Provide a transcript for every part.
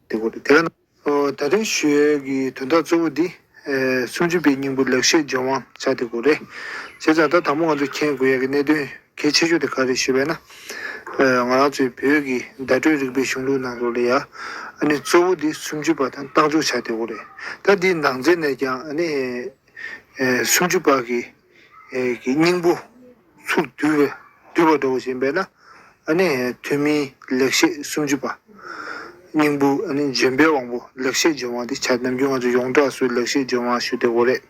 ད་དུང་ཞོལ་གྱི་དོན་དག་གཙོ་བོ་འདི། སུམ་ཅུ་པའི་སྙིང་པོ་ལེགས་བཤད་ལྗོན་དབང་བྱ་དེ་ཀོ་རེད། བྱས་ཙང་ད་ད་མོ་ང་ཚོས་མཁྱེན་དགོས་ཡག་གི་གནད་དོན་གལ་ཆེ་ཤོས་དེ་ག་རེད་ཞེས་པས་ན། ང་རང་ཚོའི་བོད་ཀྱི་བརྡ་སྤྲོད་རིག་པའི་གཞུང་ལུགས་ནང་དུ་ལ་ཡ་ཨ་ནི་གཙོ་བོ་དེ་སུམ་ཅུ་པ་དང་རྟགས་འཇོག་བྱ་དེ་བོ་རེད། ད་འདིའི་ནང་ཚན་ནས་ཀྱང་ཨ་ནི་སུམ་ཅུ་པ་གི་སྙིང་པོ་ཚུར་བསྡུ་བ་འདྲ་བོ་བྱས་པས་ན་ཨ་ནི་ཐུན་མིན་ལེགས་བཤད་སུམ་ཅུ་པ། སྙིང་པོ་ཨ་ནི་ལྗོན་པའི་དབང་པོ་ལེགས་བཤད་ལྗོན་དབང་དེ་བྱ་ནམ་རྒྱུན་ང་ཚོ་ཡོངས་གྲགས་སུ་ལེགས་བཤད་ལྗོན་དབང་ཞུ་དེ་བོ་རེད།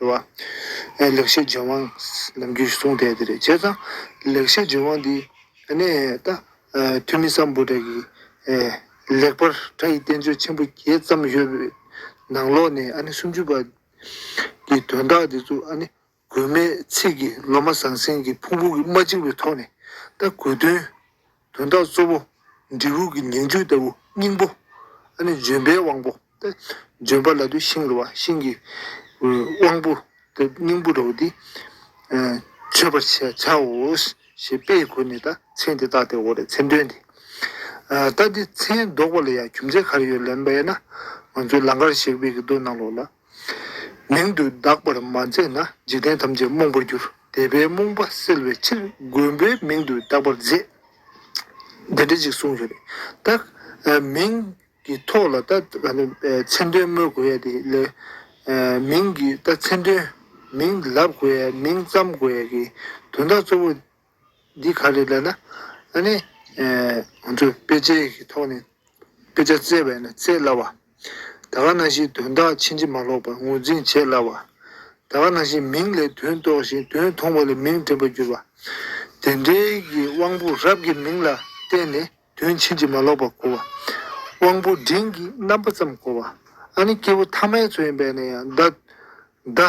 རེད་བ། ཨེ་ལེགས་བཤད་རྗེན་དབང་ནམ་རྒྱུན་གསུང་དེ་དེ་རེད་བྱས་ཙང། ལེགས་བཤད་རྗེན་དབང་འདི་ནས་ད། ཐུ་མི་སམ་བུ་དག་གིས། ལེགས་པར་བཀྲ་ཡི་བསྟན་བཅོས་ཆེན་པོ་བརྒྱད་བརྩམས་ཡོད་པའི། ནང་ལོགས་ནས་ཨ་ནི་སུམ་ཅུ་པ། གི་དོན་དག་འདི་ཚོ་ཨ་ནི། དགོས་མེད་ཚིག་གིས་ལོ་མ་ཟང་ཟིང་གི་ཕུང་པོ་གི་མ་གཅིག་པའི་ཐོག་ནས། ད་དགོས་དོན། དོན་དག་གཙོ་བོ། འབྲས་བུ་གྱི་ཉིང་བཅུད་ལྟ་བུ་སྙིང་པོ། ཨ་ནི་ལྗོན་པའི་དབང་པོ་སྟེ། ལྗོན་པ་ལ་དུས་ཤིང་རུལ་བ་ཤིང་གི། དབང་པོ་སྟེ་སྙིང་པོ་འདྲ་བོ་འདི། མཆོད་པར་བྱའོ། ཞེས་དཔེ་ཡི་གོ་ནས་ད་མཚན་དེ་བཏགས་ཏེ་འོ་རེད་མཚན་འདོན་ཏེ། ལྟ་འདི་མཚན་འདོགས་པ་ལ་ཡང་རྒྱུ་མཚན་ག་རེ་ཡོད་ལན་པས་ན། ང་ཚོའི་ལང་ཀར་གཤེགས་པའི་གདོད་ནང་ལོགས་ལ། མིང་དུ་གདགས་པར་མ་མཛད་ན་འཇིག་རྟེན་ཐམས་ཅད་རྨོངས་པར་འགྱུར། དད་པའི་རྨོངས་པ་སེལ་བའི་ཕྱིར་མགོན་པོའི་མིང་དུ་གདགས་པར་མཛད། དེ་འདྲ་ཅིག་གསུངས་ཡོད་པས། ད་མིང་གི་ཐོག་ལ་ད་མཚན་དོན་སྨོས་དགོས་ཡས་དེ་ལས། མིང་གི་ད་མཚན་དོན་མིང་ལབ་དགོས་ཡས་མིང་བརྩམ་དགོས་ཡས་ཀྱི་དོན་དག་གཙོ་བོ། འདི་ག་ལས་ལ་ལ་ལ་ནི། ང་ཚོས་དཔེ་ཆའི་ཐོག་ནས་དཔེ་ཆ་བཙལ་བས་ན་བཙལ་སླ་བ། ད་ག་ན་ཞིག་དོན་དག་ཕྱིན་ཅི་མ་ལོག་པར་ངོས་འཛིན་བྱེད་སླ་བ། ད་ག་ན་ཞིག་མིང་ལས་དོན་རྟོགས་ཤིང་དོན་མཐོང་བ་ལས་མིང་དྲན་པར་འགྱུར་བ། དེ་འབྲེལ་གྱི་དབང་པོ་རབ་ཀྱི་མིང་ལ་བརྟེན་ནས་དོན་ཕྱིན་ཅི་མ་ལོག་པར་གོ་བ། དབང་པོ་འབྲིང་གི་རྣམ་པ་ཙམ་གོ་བ། ཨ་ནི་སྐྱེས་བུ་ཐ་མའི་ཚུལ་ཡིན་པས་ན་ཡང་བརྡ།